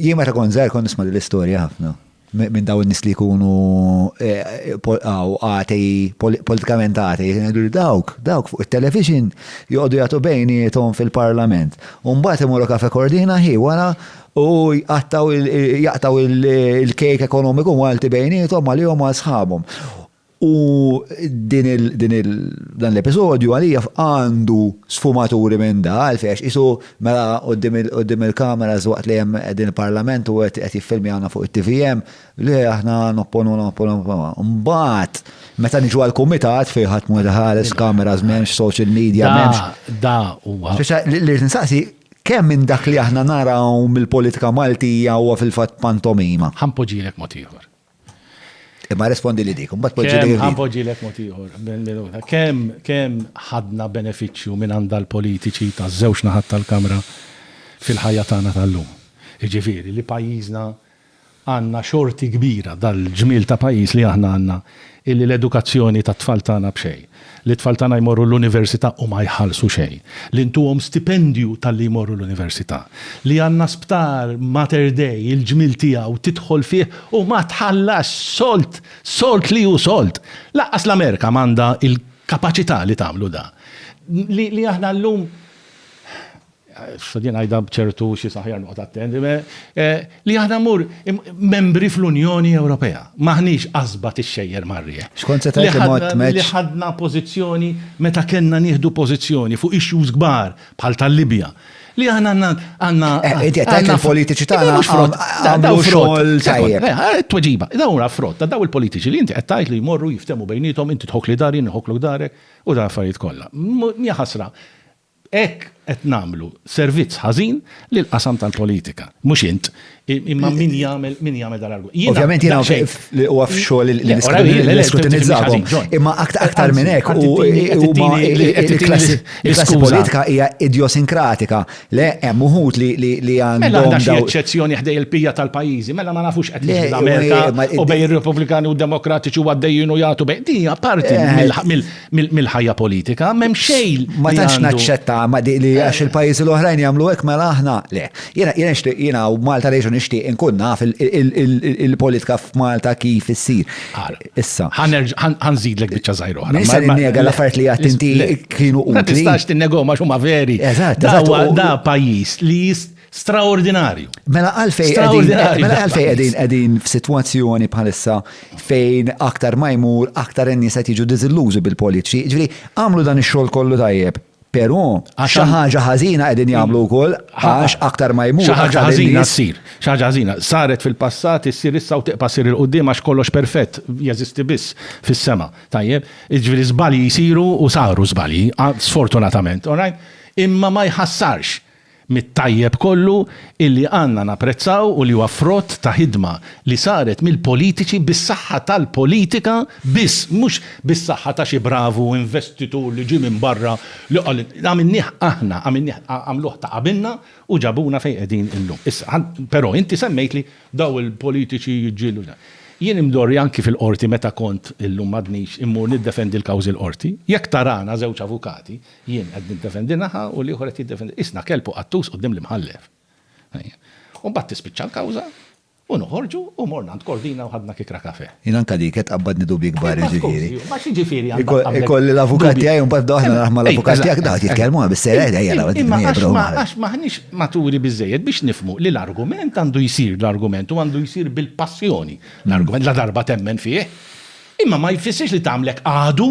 Jien meta kont żgħir kont nisma' l-istorja ħafna minn dawn nis li jkunu eh, għaw għati, politikament għati, dawk, dawk fuq il-television joqdu jgħatu bejnietom fil-parlament. Umbat imorru kafe kordina hi wara u jaqtaw il-kejk ekonomiku għalti bejnietom għalihom għal sħabhom. U dan l-episodju għalija għandu sfumaturi minn da, għalfejn għax qisu mela quddiem il-kameras waqt li hemm qegħdin il-Parlament u qed jiffilmjawna fuq it-TVM, le aħna nopponu, nopponu, nopponu. Imbagħad meta niġu għall-kumitat fejn ħadd mhu qed iħares, kameras m'hemmx, social media m'hemmx. Da huwa. Spiċċa li rrid insaqsi kemm minn dak li aħna naraw mill-politika Maltija huwa fil-fatt pantomima? Ħa npoġġilek mod ieħor. Imma respondi li dik, mbagħad poġġi li. Ħan poġġi lek mod ieħor. Kemm kemm ħadna benefiċċju minn għandha l-politiċi ta' żewġ naħat tal-Kamra fil-ħajja tagħna tal-lum. Jiġifieri li pajjiżna għandna xorti kbira dal-ġmiel ta' pajjiż li aħna għandna illi l-edukazzjoni tat-tfal tagħna b'xejn. Li t-tfal tagħna jmorru l-università u ma jħallsu xejn. Li ntuhom stipendju talli jmorru l-università. Li għandna sptar, Mater Dei, il-ġmiel tiegħu, tidħol fih u ma tħallasx solt! Solt li hu solt! Lanqas l-Amerika m'għandha l-kapaċità li tagħmlu dan. Li aħna llum. X'għadien ngħidha b'ċertu xi s'aħjar noqgħod attent, li aħna mmur membri fl-Unjoni Ewropea. M'aħniex qasba tixxejjer mar-riħ. X'kont se tgħid li mgħodd tmeġġ? Li ħadna pożizzjoni meta kellna nieħdu pożizzjoni fuq issues kbar bħal tal-Libja. Li aħna għandna. Inti qed tgħid li l-politiċi tagħna għamlu xogħol tajjeb. Tweġiba, dawn huma frott ta' dawn il-politiċi li inti qed tgħid li jmorru jiftehmu bejniethom inti tħokkli dar jien inħokklok darek u dan affarijiet kollha. Mija ħasra. B'hekk qed nagħmlu servizz ħażin lill-qasam tal-politika. Mhux int, imma min jagħmel min jagħmel dan l-argument. Jiena Ovvjament jiena daqsxejn- naf li huwa f'xogħol li Le, ora, le, le, le, niskrutinizzahom. fimtni ħażin, Imma aktar aktar minn hekk Anzi, u qed tini- qed huma tini- qed tini il-klassi l- il-klassi l-iskuża. politika hija idjosinkratika. Le hemm uħud li li li Mela għandhom għandna xi daw eċċezzjoni ħdej il-pija tal-pajjiżi, mela ma nafux qed Le, jiġri l-Amerika u- ma- u bejn ir-Repubblikani u d-Demokratiċi u għaddejjin u jagħtu bejn. Din hija parti Eh, mill- mill- mill-ħajja politika, m'hemm xejn. Ma tantx naċċetta ma di li għax eh. il-pajjiżi l-oħrajn jagħmlu hekk mela aħna le. Jiena jiena nixtieq jiena u Malta lejxu nixtieq inkun naf il-politika f'Malta kif issir. Issa. Ħanżidlek biċċa żgħir oħra. Nista' ninnega l-affarijiet li għad inti kienu utli. Ma tistax tinnegom għax huma veri. Eżatt, eżatt. Da pajjiż li jist Straordinarju. Mela għalfej mela għalfej qegħdin qegħdin f'sitwazzjoni bħalissa fejn aktar ma jmur aktar in-nies qed jiġu diżillużi bil-politiċi. Ġifieri għamlu dan ix-xogħol kollu tajjeb. Però xi ħaġa ħażina qegħdin jagħmlu wkoll għax aktar ma jmur. Xi ħaġa ħażina ssir. Xi ħaġa ħażina saret fil-passat issir issa u tiqpa' sir il-qudiem għax kollox perfett jeżisti biss fis-sema. Tajjeb, jiġifieri żbalji jsiru u saru żbalji, sfortunatament, all right? Imma ma jħassarx mit-tajjeb kollu illi għandna napprezzaw u li huwa frott ta' ħidma li saret mill-politiċi bis-saħħa tal-politika biss mhux bis-saħħa ta' xi bravu investitur li ġie minn barra li qal għamilnieh aħna għamilnieh għamluh ta' qabilna u ġabuna fejn qegħdin illum. Issa, però inti semmejtli dawn il-politiċi jiġġieldu dan. Jien imdorri anki fil-Qorti meta kont, illum m'għadnix, immur niddefendi l-kawżi l-Qorti, jekk tarana żewġ avukati Jien qed niddefendi naħa u l-ieħor qed jiddefendi. Qisna kelb u qattus quddiem l-Imħallef. U mbagħad tispiċċa l-kawża u noħorġu u morna għand Kordina u ħadna kikra kafè. Jien anke dik qed tqabbadni dubji kbar, jiġifieri. Ma x'jiġifieri għandha tqabbadlek dubji? Ikolli l-avukat tiegħi u mbagħad nibda aħna naħdmu mal-avukat tiegħek dawn qed jitkellmu bis-serjeta ejja naqgħu Imma għax m'aħniex maturi biżżejjed biex nifhmu li l-argument għandu jsir l-argument u għandu jsir bil-passjoni l-argument ladarba temmen fih. Imma ma jfissirx li tagħmlek għadu